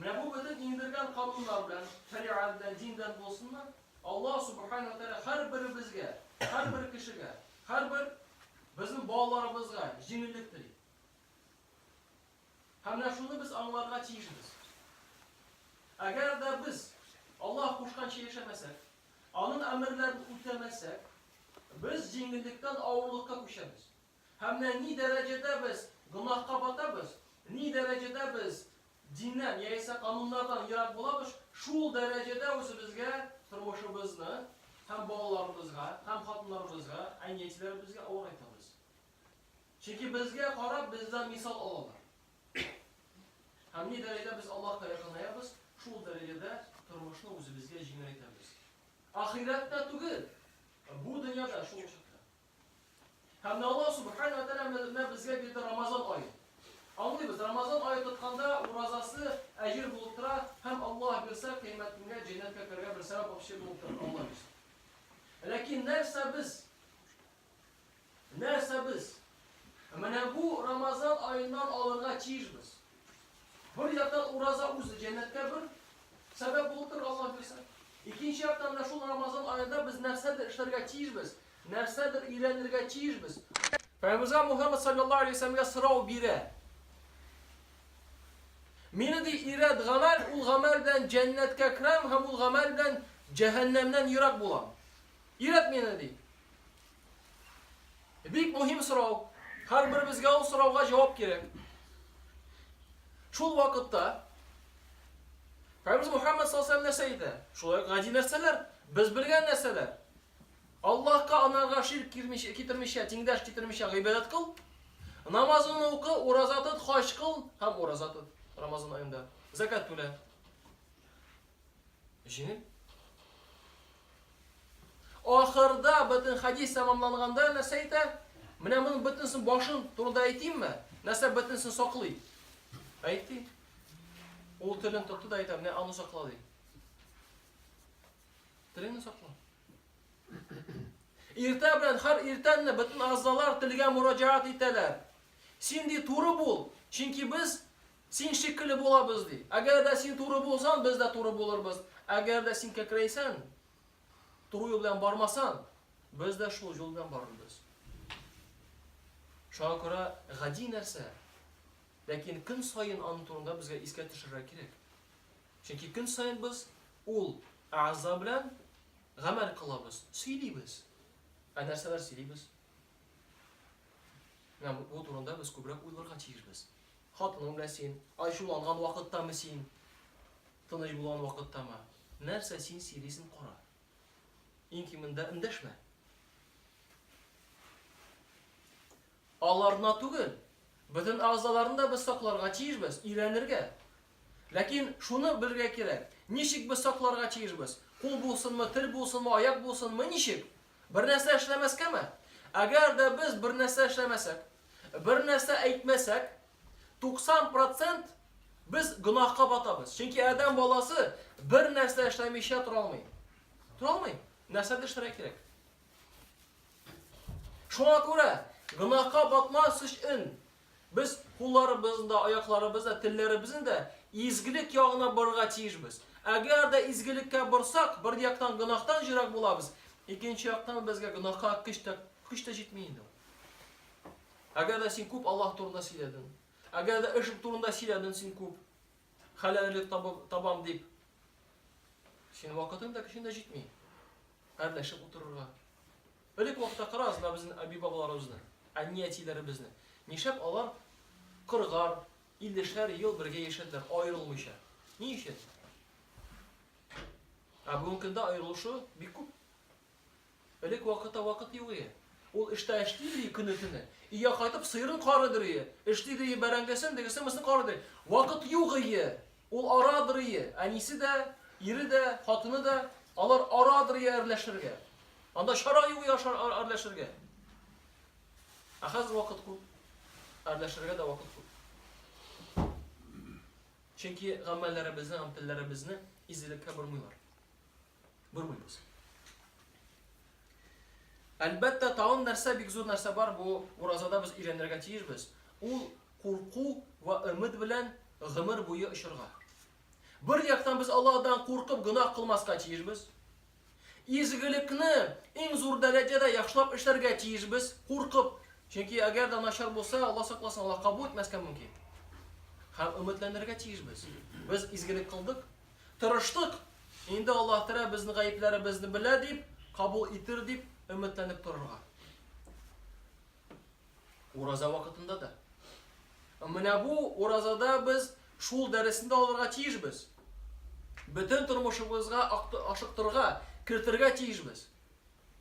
Менә бу бөтен иңдергән кануннар белән, шәригать белән, диндән булсынмы? Аллаһ Субхана ва Тәгалә һәрберебезгә, һәрбер кешегә, һәрбер безнең балаларыбызга җиңеллек тели. Һәм менә шуны без аңларга тиешбез. Әгәр дә без Аллаһ кушканча яшәмәсәк, аның әмерләрен үтәмәсәк, без җиңеллектән авырлыкка күчәбез. Һәм менә ни дәрәҗәдә без гөнаһка батабыз, ни дәрәҗәдә без диннән яисә кануннардан ерак булабыз, шул дәрәҗәдә үзебезгә, тормышыбызны һәм балаларыбызга, һәм хатыннарыбызга, әни-әтиләребезгә авырайтабыз. Чөнки безгә карап, бездән мисал алалар. Һәм ни дәрәҗәдә без Аллаһка якынаябыз, шул дәрәҗәдә тормышны үзебезгә җиңеләйтәбез. Ахирәттә түгел, бу дөньяда шул очракта. Һәм дә Аллаһ Субхана вә Тәгалә менә безгә бирде Рамазан ае. Аңлыйбыз, Рамазан ае тотканда уразасы әҗер булып тора һәм Аллаһ бирсә, кыямәтемгә җәннәткә керергә бер сәбәп апчы булып тора, Аллаһ бирсә. Ләкин нәрсә без? Нәрсә без? Менә бу Рамазан аеннан алырга тиешбез. Бер яктан ураза үзе җәннәткә бер сәбәп булып тора Аллаһ бирсә. Икенче яктан менә шул Рамазан аенда без нәрсәдер эшләргә тиешбез, нәрсәдер өйрәнергә тиешбез. Пәйгамбер Мухаммад саллаллаһу алейһи вәсәләмгә сорау бирә. Мине ди ирәд гамәл, ул гамәл белән җәннәткә керәм һәм ул гамәл белән җәһәннәмнән ерак булам. Ирәд мине ди. Бик мөһим сорау. Һәрберебезгә ул сорауга җавап кирәк. Шул вакытта Пәйгамбер Мухаммад саллаллаху алейһи нәрсә әйтә? Шулай ук гади нәрсәләр, без белгән нәрсәләр. Аллаһка анарга ширк кирмичә, китермичә, тиңдәш китермичә гыйбадәт кыл. Намазын укы, ураза тот, хаҗ кыл һәм ураза тот Рамазан аенда. Закат түлә. Җиңел. Ахырда бөтен хадис тәмамланганда нәрсә әйтә? Менә моның бөтенесен башын турында әйтимме? Нәрсә бөтенесен саклый? Әйтте. Ул телен тотты да әйтә, менә аны сакла ди. Телеңне сакла. Иртә белән һәр иртәнне бөтен агъзалар телгә мураҗаат итәләр. Син ди туры бул, чөнки без Син шикелле булабыз, ди. Әгәр дә син туры булсаң, без дә туры булырбыз. Әгәр дә син кәкрәйсәң, туры юл белән бармасаң, без дә шул юл белән барырбыз. Шуңа күрә гади нәрсә, ләкин көн саен аның турында безгә искә төшерергә кирәк. Чөнки көн саен без ул әгъза белән гамәл кылабыз, сөйлибез. Ә нәрсәләр сөйлибез? Менә бу турында без күбрәк уйларга тиешбез. Хатының белән син ачуланган вакыттамы син тыныч булган вакыттамы нәрсә син сөйлисен кара. Иң кимендә эндәшмә. Аларына түгел, бөтен агзаларны да без сакларга тиешбез, өйрәнергә. Ләкин шуны белергә кирәк, ничек без сакларга тиешбез? Кул булсынмы, тел булсынмы, аяк булсынмы, ничек? Бер нәрсә эшләмәскәме? Әгәр дә без бер нәрсә эшләмәсәк, Бер нәрсә әйтмәсәк, 90 процент без гөнаһка батабыз. Чөнки адәм баласы бер нәрсә эшләмичә тора алмый. Тора алмый. Нәрсәдер эшләргә кирәк. Шуңа күрә гөнаһка батмас өчен без кулларыбызны да, аякларыбызны да, телләребезне дә изгелек ягына борырга тиешбез. Әгәр дә изгелеккә борсак, бер яктан гөнаһтан җирәк булабыз, икенче яктан безгә гөнаһка көч тә көч тә җитми инде. Әгәр дә син күп Аллаһ турында сөйләдең, әгәр дә ышык турында сөйләдең син күп, хәләллек табам дип, син вакытың да көчең дә җитми. Әрләшеп утырырга. Элек вакытта карагыз да безнең әби бабаларыбызны, әни әтиләребезне. Нишләп алар кыргар, иллешәр ел бергә яшәделәр, аерылмыйча? Ни өчен? Ә бүгенге көндә аерылышу бик күп. Элек вакыта вакыт юк ие. Ул эштә эшли ие көне-төне. Ия кайтып сыерын карыдыр ие. Эшли ие бәрәңгесен, дегесен, мысын карыдыр. Вакыт юк ие. Ул арадыр ие. Әнисе дә, ире дә, хатыны да. Алар арадыр ие әрләшергә. Анда чара юк ие әрләшергә. Ә хәзер вакыт күп. Әрләшергә дә вакыт күп. Чөнки гамәлләребезне һәм телләребезне изелеккә бормыйлар. Бормыйбыз. Әлбәттә, тагын нәрсә бик зур нәрсә бар, бу уразада без өйрәнергә тиешбез. Ул курку ва өмет белән гомер буе очырга. Бер яктан без Аллаһдан куркып гөнаһ кылмаска тиешбез. Изгелекне иң зур дәрәҗәдә яхшылап эшләргә тиешбез, куркып. Чөнки әгәр дә начар булса, Алла сакласын, Алла кабул итмәскә мөмкин. Һәм өметләнергә тиешбез. Без изгелек кылдык, Тырыштык, инде Аллаһ Тәгалә безнең гаепләребезне белә дип, кабул итер дип өметләнеп торырга. Ураза вакытында да. Менә бу уразада без шул дәресне дә алырга тиешбез. Бөтен тормышыбызга ашыктырга, кертергә тиешбез.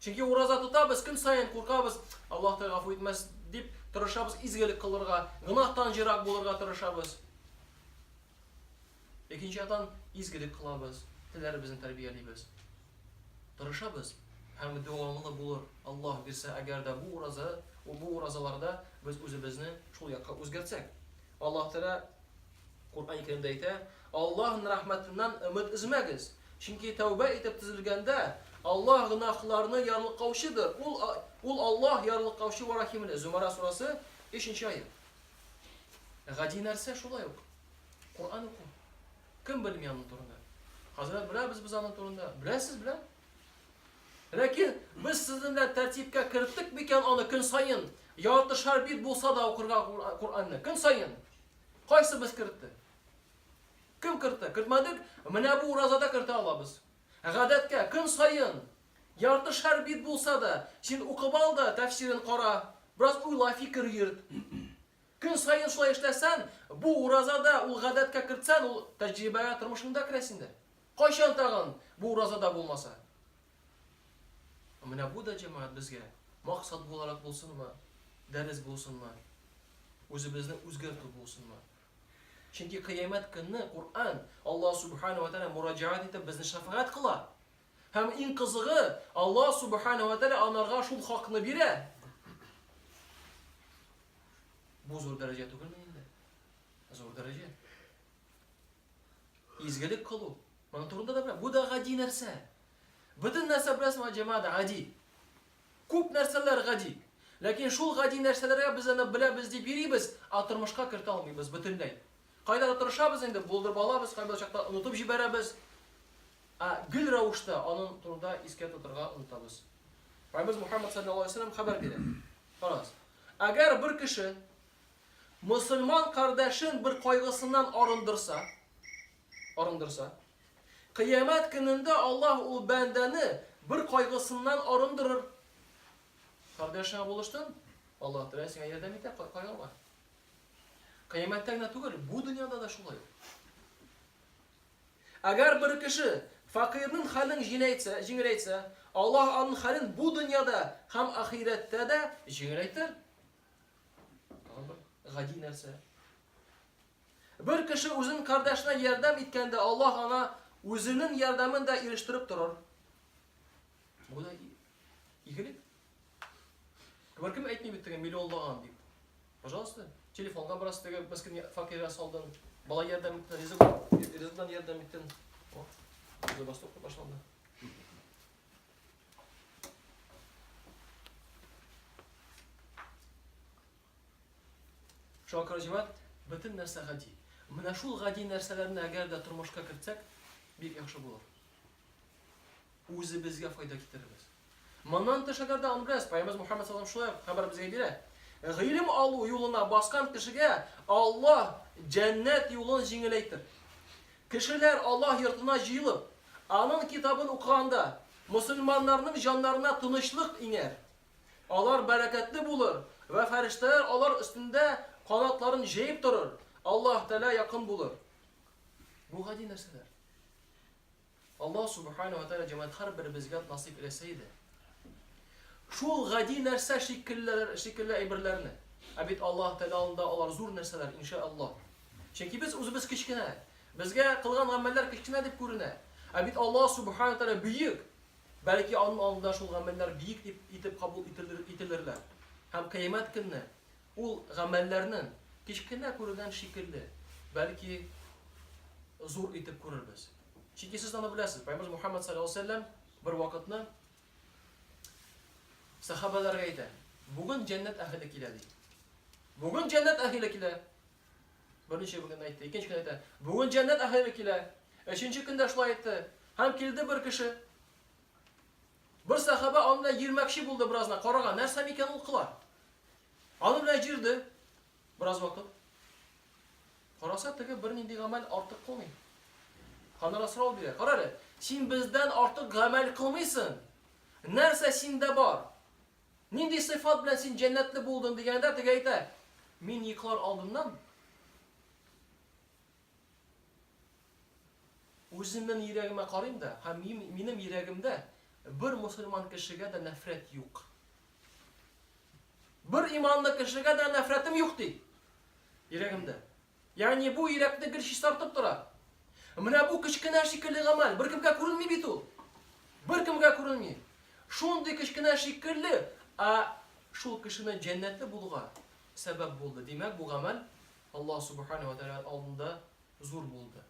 Чөнки ураза тотабыз, көн саен куркабыз, Аллаһ Тәгалә гафу итмәс дип тырышабыз, изгелек кылырга, гынахтан җирак булырга тырышабыз. Икенче яктан, изгелек кылабыз, телләребезне тәрбиялибез. Тырышабыз һәм дәвамлы булыр, Аллаһ бирсә, әгәр дә бу ураза, бу уразаларда без үзебезне шул якка үзгәртсәк. Аллаһ Тәгалә Коръәни Кәримдә әйтә, Аллаһның рәхмәтеннән өмет өзмәгез, чөнки тәүбә итеп төзелгәндә, Аллаһ гөнаһларны ярлыкаучыдыр, Ул, Ул Аллаһ ярлыкаучы вә рәхимле. Зөмәрә сурәсе, өченче аять. Гади нәрсә шулай ук. Коръән уку. Кем белми аның турында? Хәзрәт беләбез без аның турында. Беләсез, белә? Ләкин без сезнең белән тәртипкә керттек микән аны көн саен? Ярты шар бит булса да укырга Коръәнне. Көн саен. Кайсы без кертте? Кем кертте? Кертмәдек. Менә бу уразада кертә алабыз. Гадәткә, көн саен, ярты шәр бит булса да, син укып ал да, тәфсирен кара, бераз уйла, фикер йөрт. Көн саен шулай эшләсән, бу уразада ул гадәткә кертсән, ул тәҗрибәгә тормышыңда керә синдә. Кайчан тагын бу уразада булмаса? Менә бу да, җәмәгать, безгә максат буларак булсынмы, дәрес булсынмы, үзебезне үзгәртү булсынмы, Чөнки кыямәт көнне Коръән, Аллаһ Субхана ва Тәгалә мураҗәгать итеп безне шәфәгать кыла. Һәм иң кызыгы, Аллаһ Субхана ва Тәгалә анарга шул хакны бирә. Бу зур дәрәҗә түгелме инде? Зур дәрәҗә. Изгелек кылу. Моның турында да бу да гади нәрсә. Бөтен нәрсә беләсең, җәмәгать гади. Күп нәрсәләр гади. Ләкин шул гади нәрсәләргә без аны беләбез дип йөрибез, ә тормышка кертә алмыйбыз бөтенләй. Кайдадыр тырышабыз инде, булдырып алабыз, кайбер очракта онытып җибәрәбез, ә гел рәвештә аның турында искә тотырга онытабыз. Раббыбыз Мухәммәд салләллаһу алейһи ва сәлләм хәбәр бирә. Карагыз. Әгәр бер кеше мөселман кардәшен бер кайгысыннан арындырса, арындырса, Кыямәт көнендә Аллаһ ул бәндәне бер кайгысыннан арындырыр. Кардәшеңә булыштын, Аллаһ Тәгалә сиңа ярдәм итә, кайгырма. Кыямәттә генә түгел, бу дөньяда да шулай. Әгәр бер кеше факирның хәлен җиңеләйтсә, җиңеләйтсә, Аллаһ аның хәлен бу дөньяда һәм ахирәттә дә җиңеләйтер. Гади нәрсә. Бер кеше үзен кардәшенә ярдәм иткәндә, Аллаһ аңа үзенең ярдәмен дә ирештереп торыр. Бу да игелек. Беркем әйтми бит теге миллионлаган дип. Пожалуйста, телефонга бераз теге мескин факирга салдың, бала ярдәм иттең, ризык ризыктан ярдәм иттең. О, үзе бастык башланды. Шуңа күрә, җимат, бөтен нәрсә гади. Менә шул гади нәрсәләрне әгәр дә тормышка кертсәк, бик яхшы булыр. Үзебезгә файда китерербез. Моннан тыш әгәр дә Анбрәс, Пәйгамбәр Мухаммад саллаллаһу шулай хәбәр безгә бирә. Гыйлем алу юлына баскан кешегә Аллаһ җәннәт юлын җиңеләйтер. Кешеләр Аллаһ йортына җыелып, аның китабын укыганда, мусульманнарның җаннарына тынычлык иңәр. Алар бәрәкәтле булыр, вә фәрештәләр алар өстендә канатларын җәеп торыр, Аллаһ Тәгалә якын булыр. Бу гади нәрсәләр. Аллаһ Субхана вә Тәгалә җәмәгать һәрберебезгә насыйп эйләсә иде. Шул гади нәрсә шикеллеләр, шикелле әйберләрне. Ә бит Аллаһ Тәгалә алдында алар зур нәрсәләр, инша Аллаһ. Чөнки без үзебез кечкенә. Безгә кылган гамәлләр кечкенә дип күренә. Ә бит Аллаһ Субхана вә Тәгалә бөек. Бәлки аның алдында шул гамәлләр биек дип итеп кабул ителерләр һәм Кыямәт көнне ул гамәлләрнең кечкенә күренгән шикелле, бәлки зур итеп күрербез. Чөнки сез аны беләсез, Пәйгамбәрбез Мухаммад саллаллаһу алейһи ва сәлләм бер вакытны сәхабәләргә әйтә, бүген җәннәт әһеле килә, ди. Бүген җәннәт әһеле килә. Берничә көннән әйтте, икенче көн әйтә, бүген җәннәт әһеле килә. Өченче көндә шулай әйтте. Һәм килде бер кеше. Бер сахаба аны белән йөрмәкче булды беразна, карага, нәрсә микән ул кыла? Аны белән җирде бераз вакыт. Караса, теге бернинди гамәл артык кылмый. Ханара сорау бирә. Кара әле, син бездән артык гамәл кылмыйсың. Нәрсә синдә бар? Нинди сыйфат белән син җәннәтле булдың? дигәндә, теге әйтә, Мин йоклар алдыннан үземнең йөрәгемә карыйм да, һәм минем йөрәгемдә бер мусульман кешегә дә нәфрәт юк. Бер иманлы кешегә дә нәфрәтем юк ди. Йөрәгемдә. Ягъни бу йөрәкне гел чистартып тора. Менә бу кечкенә шикелле гамәл беркемгә күренми бит ул. Беркемгә күренми. Шундый кечкенә шикелле, ә шул кешенең җәннәтле булуга сәбәп булды. Димәк, бу гамәл Аллаһ Субхана ва Тәгалә алдында зур булды.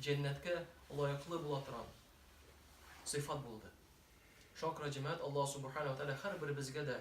Җәннәткә лаеклы була торган сыйфат булды. Шакра җәмәгать Аллаһ Субхана ва Тәгалә һәрберебезгә дә